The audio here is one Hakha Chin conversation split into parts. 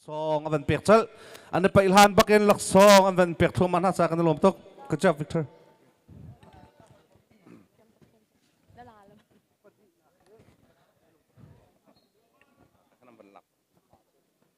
laksawng an van pek chalh an i paih hlan bakin laksawng an van pek thluahmah hna ca kan i lawm tuk good job Victor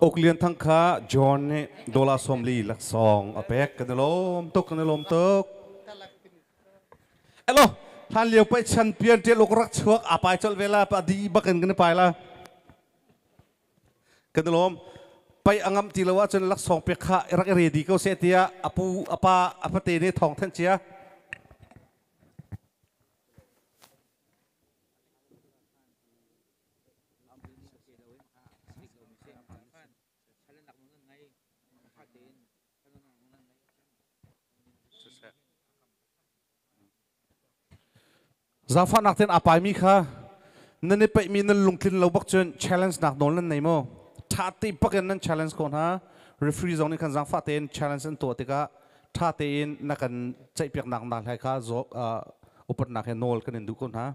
Uk Lian Thang kha John nih dolar sawmli laksawng a pek kan i lawm tuk kan i lawm tuk. Elo hlan lio pei chan pian ṭial uk rak chuak a pai colh ve la pa di bak in kan i pai la. Kan i lawm. Pei angam ti lo ahcun laksawng pek kha i rak i redi ko seh tiah a pu a pa a fate ne thawng thanh cia. Zaangfahnak tein aa paimi kha nan i peihmi nan lungtlin lo bak cun challenge nak nawl nan nei maw? Ṭha te bak in nan challenge ko hna. Referee zong nih khan zaangfah tein challenge an tuah tikah ṭha tein na kan ceihpiaknak hna hlai kha upatnak he nawl kan in duh ko hna.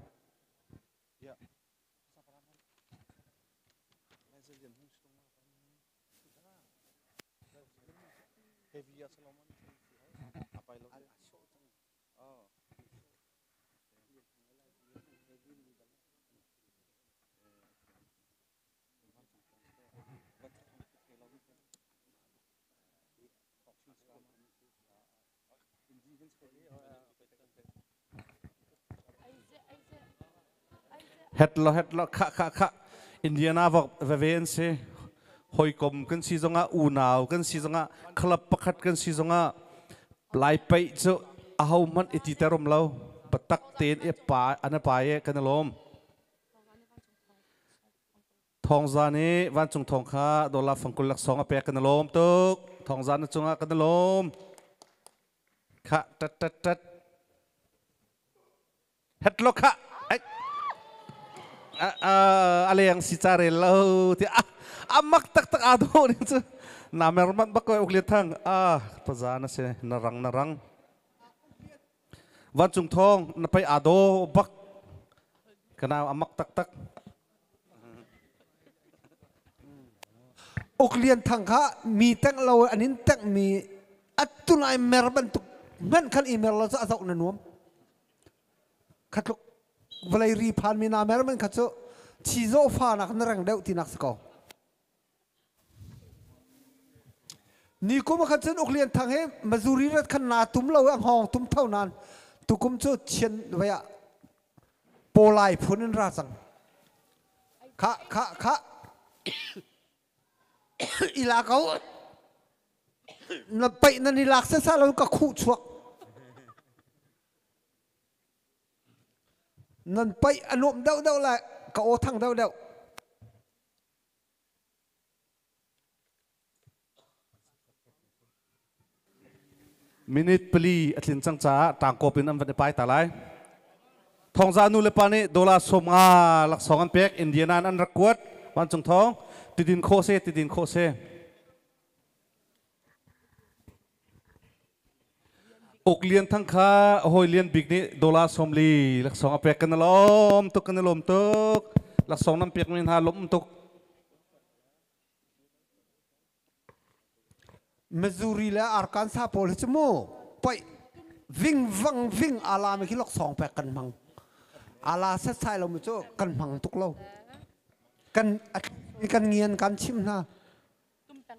Het lo het lo khah khah khah Indiana veve an si hawikom kan si zongah unau kan si zongah club pakhat kan si zongah lai pei cu a ho hmanh i ti terom lo batak ten i pa an pa ye kan lom Thawngza nih vancung thawng kha dollar fangkul laksawng a pek kan i lawm tuk. Thawngza na cungah kan i lawm. Kha tat tat tat. Headlock kha ai, a leng si ca rel lo ti ah a mak taktak aa dawh ning cu na mer manh bak uk lian thang ah paza na si na rang na rang Vancung thawng na pei aa daw bak. Ka nau a mak taktak. Uk Lian Thang kha mi tengh lo an in tengh mi atu nai mer bantuk ngan khan i mer lo cu a zoh na nuam. Khatluk vawlei ri phan mi na mer men kha cu thi zawfa nak na reng deuh tinak si ko. Ni kum ah khan cun Uk Lian Thang he Mazuri rat khan naa tum lo i a hngawng tum tho nain tukum cu Chian vai ah Pawlai phun in ra cang. Khah khah khah. I la ko. Na paih nan i lak sasa lo ka khuh chuak. Nan paih a nuam deuh deuh lai ka aw thang deuh deuh. Minute pali a tlin cang caah tangkawp in an van i pai ta lai. Thongza nu le pa nih dollar sawm nga laksawng an pek Indiana in an rak kuat vancung thawng tidin khawh se tidin khawh se Uk Lian Thang kha a hawi Lian Bik nih dollar sawmli laksawng a pek kan i lawm tuk kan i lawm tuk laksawng nan pekmi hna lawm tuk Missouri le Arkansas pawl hi cu mu poi ving vang ving ala mi khi laksawng pek kan hmang ala setsai lo mi cu kan hmang tuk lo kan kan ngian kan chim hna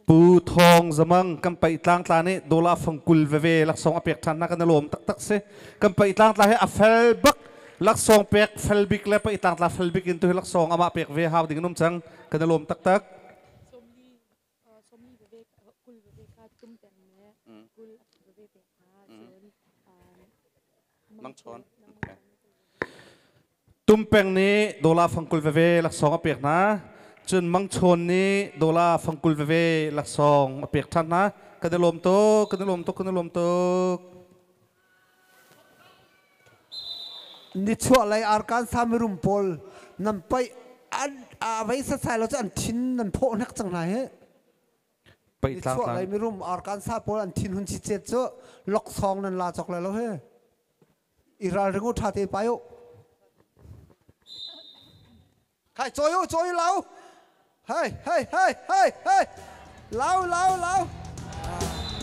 Pu Thawng Zamang kan paih tlangtla nih dollar fangkul veve laksawng a pek ṭhan hna kan i lawm taktak si. Kan paih tlangtla hi a fel bak laksawng pek fel bik le paih tlangtla fel bik in tu hi laksawng amah pek ve hau ding an um cang kan i lawm taktak. Tumpeng nih dola fangkul veve laksawng a pek hna. Cun mangchawn nih dola fangkul veve laksawng a pek ṭhan hna. Kan i lawm tuk, kan i lawm tuk, kan i lawm tuk. Nichuah lei arkan samirum pawl nan paih an voi sasai lo cu an thin nan phawh hnek cang hna hi. Nichuah lei mirum arkan sa pawl an thin hun si chet cu loksong nan la chok le lo he iral ringu tha te payo khai choi u choi lau hey hey hey hey hey lau lau lau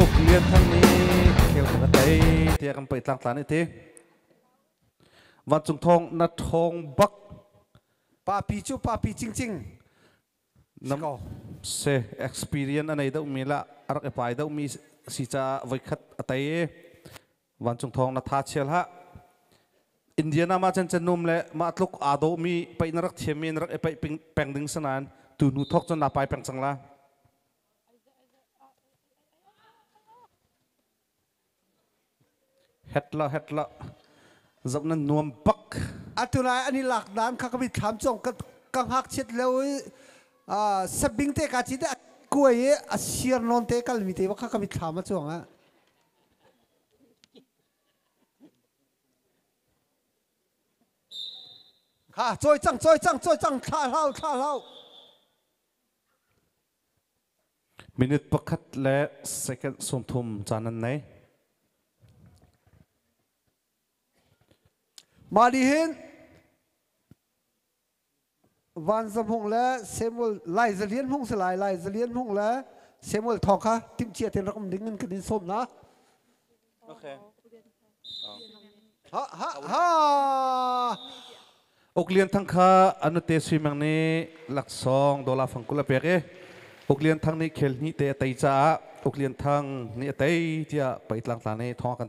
Uk Lian Thang nih kheotuk a tei tiah kan pei tlangtlan i ti. Vancung thawng na ṭhawng bak Papi cu papi cingcing. nam se experience a nei deuhmi lah a rak i pai deuhmi si caah voikhat a tei i vancung thawng na tha chial ha Indiana ma chan chan num le mah tluk aa dawmi peih na rak thiam mi na rak i peih peng ding sanain tu nu thok cun na pai peng cang la Zoh nan nuam bak. Atu lai an i lak dan kha ka mit thlam cong ka ka ngak chiat lo i sabing te ka chi te kuai i a siar non te kal mi te ba kha ka mit thlam a chuang a. Ha, coi cang, coi cang, coi cang, thla hlau, thla hlau. Minute pakhat le second sawmthum caan an nei. Mah nih hin Van Za Hmung le Samuel Lai Za Lian Hmung si lai Lai Za Lian Hmung le Samuel Thawng kha timhcia tein rak um ding in kan in sawm hna. Uk Lian Thang kha anute suimang nih laksawng dola fangkul a pek i Uk Lian Thang nih khel hnih te a tei caah Uk Lian Thang nih a tei tiah peitlang tla nih thong kan